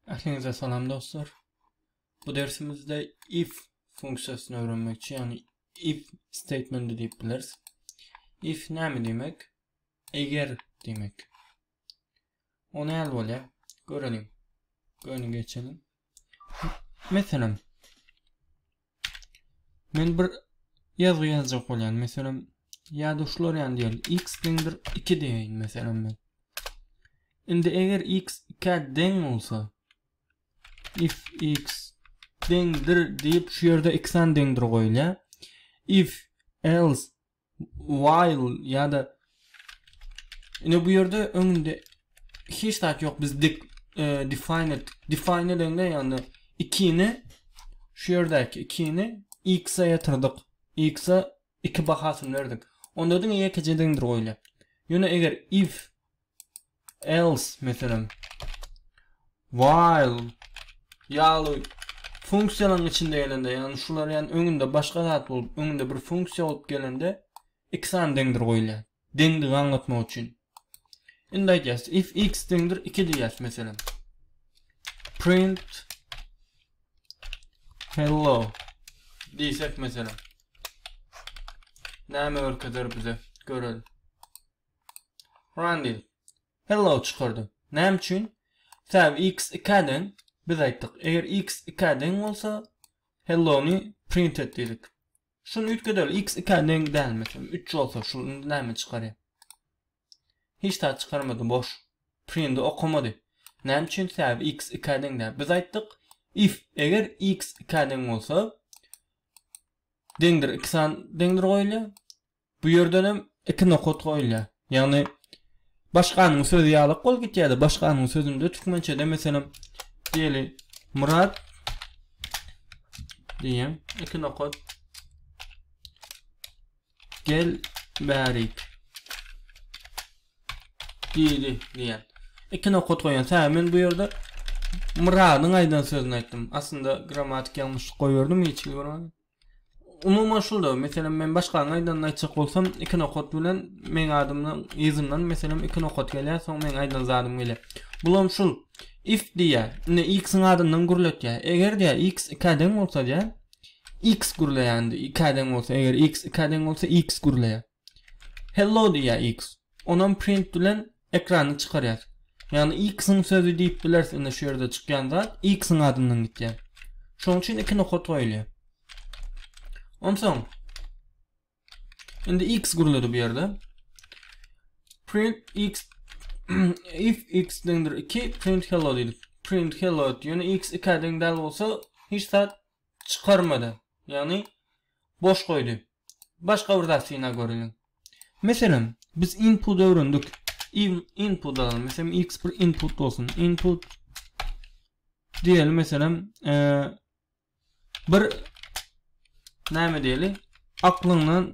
Ähliňize salam dostlar. Bu dersimizde if funksiýasyny öwrenmekçi, ýagny if statementy diýip bileris. If näme diýmek? Eger diýmek. O näl bolýar? Göreliň. Göni geçelim. Meselem, men bir ýazgy ýazjak bolýan. Meselem, ýa-da şular ýaly diýeli, x deňdir 2 diýeýin meselem men. Indi eger x 2 deň bolsa, if x deňdir diýip şu ýerde x-an deňdir goýulýar. If else while ýa-da ine bu ýerde öňünde hiç zat ýok biz dik e, define etdik define edende ýagny ikini şu ýerdäki ikini x-a ýatyrdyk x-a iki bahasyny berdik onda diňe ýekeje deňdir goýulýar ýöne eger if else meselem while ýaly funksiýalaryň içinde gelende, ýagny şular ýagny öňünde başga zat bolup, öňünde bir funksiýa bolup gelende iki sany deňdir goýulýar. Deňdigi aňlatmak üçin. Indi aýdýas, if x deňdir 2 diýýäs meselem. Print hello diýsek meselem. Näme görkezer bize? Görelim. Randil. Hello çykardy. Näme üçin? Sebäbi x 2-ä deň. Biz aýtdyk, eger x 2-ä deň bolsa, hello-ny print et diýdik. Şuny üýtgedeli, x 2-ä deň däl, meselem, 3 bolsa, şu indi näme çykarýar? Hiç zat çykarmady, boş. Print-i okamady. Näme üçin? Sebäbi x 2-ä deň däl. Biz aýtdyk, if eger x 2-ä deň bolsa, deňdir iki san deňdir goýulýar. Bu ýerdenem iki nokat goýulýar. Ýagny başganyň sözi ýalak bolup gitýärdi. Başganyň sözünde türkmençede meselem diýeli Murat diýen iki nokat gel bärik diýdi diýen. Iki nokat goýan. Sä men bu ýerde Muradyň aýdan sözüni aýtdym. Aslynda grammatik ýalňyşlyk goýberdimi hiç görmän. Umuman şulda, meselem, men başganyň aýdanyny aýtjak bolsam, iki nokat bilen meň adymdan, yzyndan, meselem, iki nokat gelýär, soň meň aýdan zadym gelýär. Bulam şul, if diýýär, indi x-iň adyndan gürletýär. Eger diýýär, x ikä deň bolsa diýýär, x gürleýär, indi ikä deň bolsa, eger x ikä deň bolsa, x gürleýär. Hello diýýär X. Onam print bilen ekrana çykarýar. Ýagny X-iň sözi diýip bileris indi şu ýerde çykýan zat X-iň adyndan gitýär. Şonuň üçin iki nokat goýulýar. Onsoň indi X gürledi bu ýerde. Print X if X deňdir 2 print hello diýdik. Print hello diýeni X 2 deň däl bolsa hiç zat çykarmady. Ýagny Boş goýdy. Başga bir zat synap göreliň. Meselem, biz input öwrendik. Input alyň. Meselem, x bir input bolsun. Input diýeli meselem, bir näme diýeli? Aklyňdan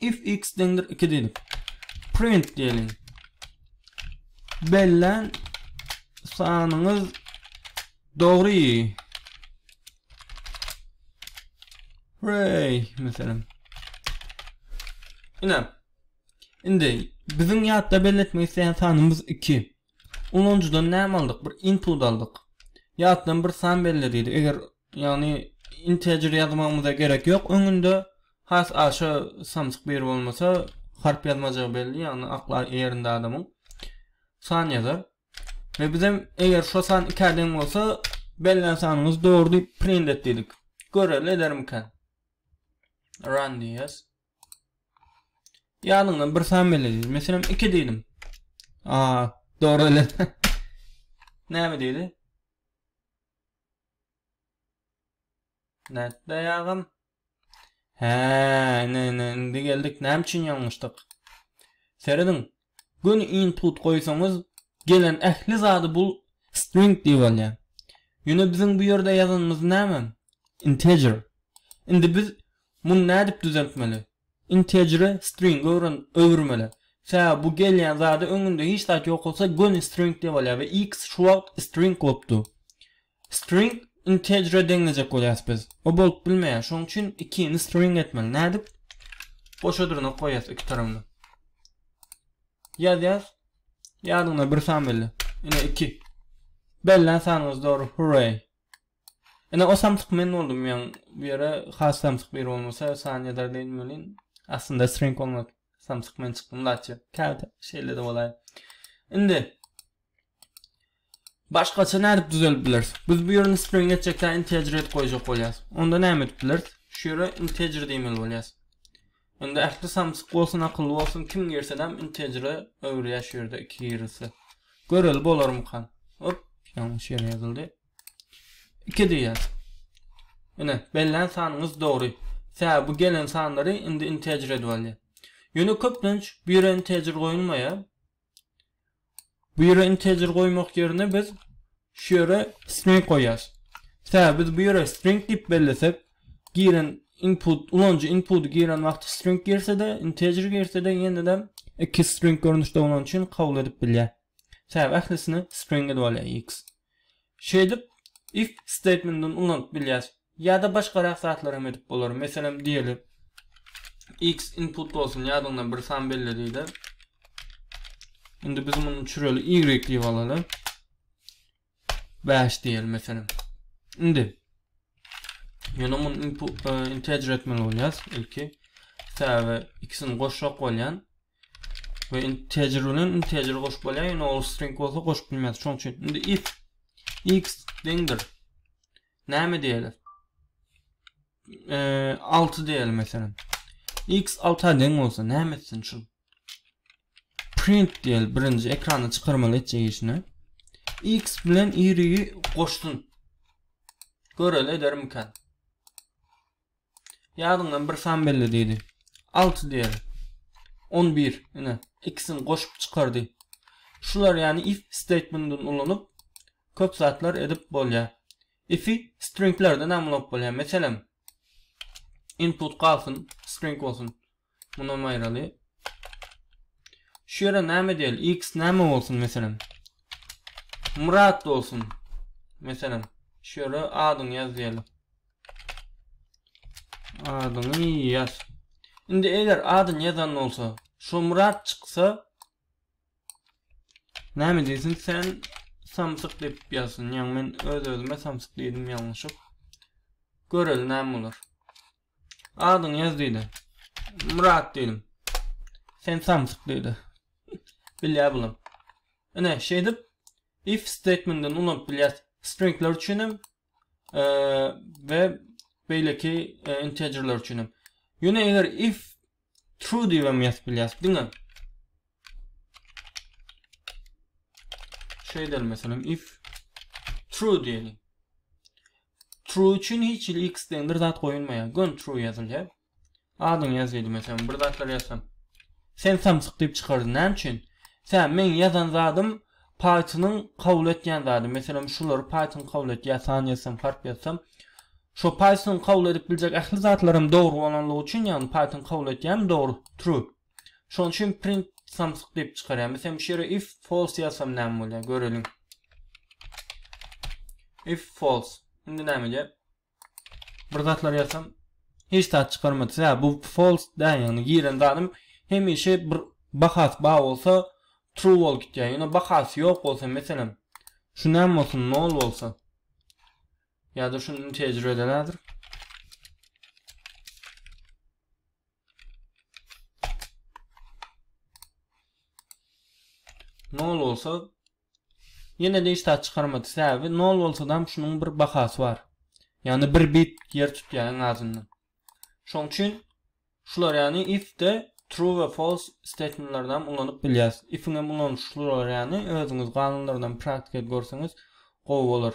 if x deňdir 2 diýip print diýeliň. Bellän sanyňyz dogry. Hooray, meselem. Ina. Indi biziň ýatda belletmek isleýän sanymyz 2. Ulanyjydan näme aldyk? Bir input aldyk. Ýatdan bir san belle diýdi. Eger Ýagny integer ýazmagymyza gerek ýok öňünde. Has aşa samsyk biri bolmasa harp ýazmajagy belli, ýagny akly ýerinde adamyň san ýazar. Ve bizem eger şo san ikä deň bolsa bellän sanyňyz dogry diýip print et diýdik. Göreli edermikä? Run diýýäs. Ýadyňdan bir san belle diýdi. Meselem 2 diýdim. A, dogry ele. Näme diýdi? Nätleýägem? Hä, ine, ine, indi geldik. Näme üçin ýalňyşdyk? Serediň. Göni input goýsaňyz, gelen ähli zady bul string diýip alýar. Ýöne biziň bu ýerde ýazanymyz näme? Integer. Indi biz muny nädip düzeltmeli? Integere stringe öwren öwürmeli. Sebäbi bu gelýän zada öňünde hiç zat ýok bolsa göni string diýip alýar we x şu wagt string bolupdy. String integere deňlejek bolýas biz. O bolup bilmeýär. Şoň üçin ikini string etmeli. Nädip? Goşa dyrnak goýýas iki tarabna. Ýazýas. Ýadyňda bir san belli. Ine iki. Bellän sanyňyz dogry. Hurray. Ine o samsyk men boldum ýaň bu ýere has samsyk biri bolmasa san ýazar diýen welin aslynda string bolmaz samsyk men çykdym daçy käte şeýlede bolaýa indi başgaça nädip düzelip bileris biz bu ýerini string etjek dä integer edip goýjak bolýas onda näme edip bileris şu ýere integer diýmeli bolýas indi ähli samsyk bolsun akylly bolsun kim girsedem integer öwürýär şu ýerde iki girilse göreli bolarmykan hop ýalňyş ýere ýazyldy Iki diýýär. Ine, bellän sanyňyz dogry. Sebäbi bu gelen sanlary indi integer edip alýar. Ýöne köplenç bu ýere integer goýulmaýar. Bu ýere integer goýmak ýerine biz şu ýere string goýýas. Sebäbi biz bu ýere string diýip bellesek, giren input, ulanyjy inputy giren wagty string girse-de, integer girse-de ýene-de iki string görnüşde bolany üçin kabul edip bilýär. Sebäbi ählisini string edip alýar x. Şeýdip if statementini ulanyp bilýäs. Ýa-da başgarak zatlar hem edip bolar. Meselem diýeli x input bolsun ýadyňdan bir san belle diýeli. Indi biz muny çüreli y diýip alaly. 5 diýeli meselem. Indi ýöne muny input e, integer etmeli bolýas ilki. Sebäbi ikisini goşjak bolýan. we integer bilen integer goşup bolýar ýöne ol string bolsa goşup bilmeris şoň üçin indi if x deňdir näme diýeli e, 6 diýeli meselem x 6 deň bolsa näme etsin şu print diýeli birinji ekrana çykarmaly etjek işini x bilen y goşsun göreli edermikan Ýadyňdan bir san belle diýdi. Alty diýeli. On bir, ine, ikisini goşup çykardy. Şular ýaly if statementini ulanyp, köp zatlar edip bolýar. If-i stringlerden hem ulanyp bolýar. Meselem, input galsyn, string bolsun. Munam aýraly. Şu ýere näme edýäli? X näme bolsun meselem? Myrat bolsun. Meselem, şu ýere adyňy ýaz diýeli. Adyňy ýaz. Indi eger adyny ýazan bolsa, şu Myrat çyksa, näme diýsin sen samsyk diýip ýazsyn. Ýa men öz-özüme samsyk diýdim ýalňyşyp. Göreli näme bolar. Adyňy ýaz diýdi. Myrat diýdim. Sen samsyk diýdi. Bilýär bulam. Ine şeýdip if statementini ulanyp bilýäs. Stringler üçin hem e, we beýleki e, integerler üçin hem. Ýöne eger if True diýibem ýazyp bilýäris. Diňe şu edelim meselem if true diýeli. True üçin hiç hili x deňdir zat goýulmaýar. Gön true ýazylýar. Adyň ýazylýar meselem bir zatlar ýazsam. Sen samsyk diýip çykardy. Näme üçin? Sen meň ýazan zadym Pythonyň kabul etýän zady, meselem, şulary Python kabul etýär, san ýazsam, harp ýazsam. Şo Pythonyň kabul edip biljek ähli zatlaram dogry bolanlygy üçin, ýagny Python kabul etýärmi, dogry, true. Şonuň üçin print samsyk diýip çykarýar. Meselem, şu ýere if false ýazsam näme bolýar, göreliň. If false. Indi näme edýär? Bir zatlar ýazsam hiç zat çykarmady. Sä bu false dä ýagny giren zadym hemişe bir bahasy bar bolsa true bolup gitýär. Ýöne bahasy ýok bolsa meselem şu näme bolsun nol bolsa ýa-da şu integer berelerdir. Nol bolsa Ýene-de hiç zat çykarmady. Sebäbi nol bolsadam şunuň bir bahasy bar. Ýagny bir bit ýer tutýar iň azyndan. Şoň üçin şular ýagny if-de true we false statementlerini hem ulanyp bilýäs. If-iň hem ulanyşy şular ýagny özüňiz ganunlaryndan praktika edip görseňiz gowy bolar.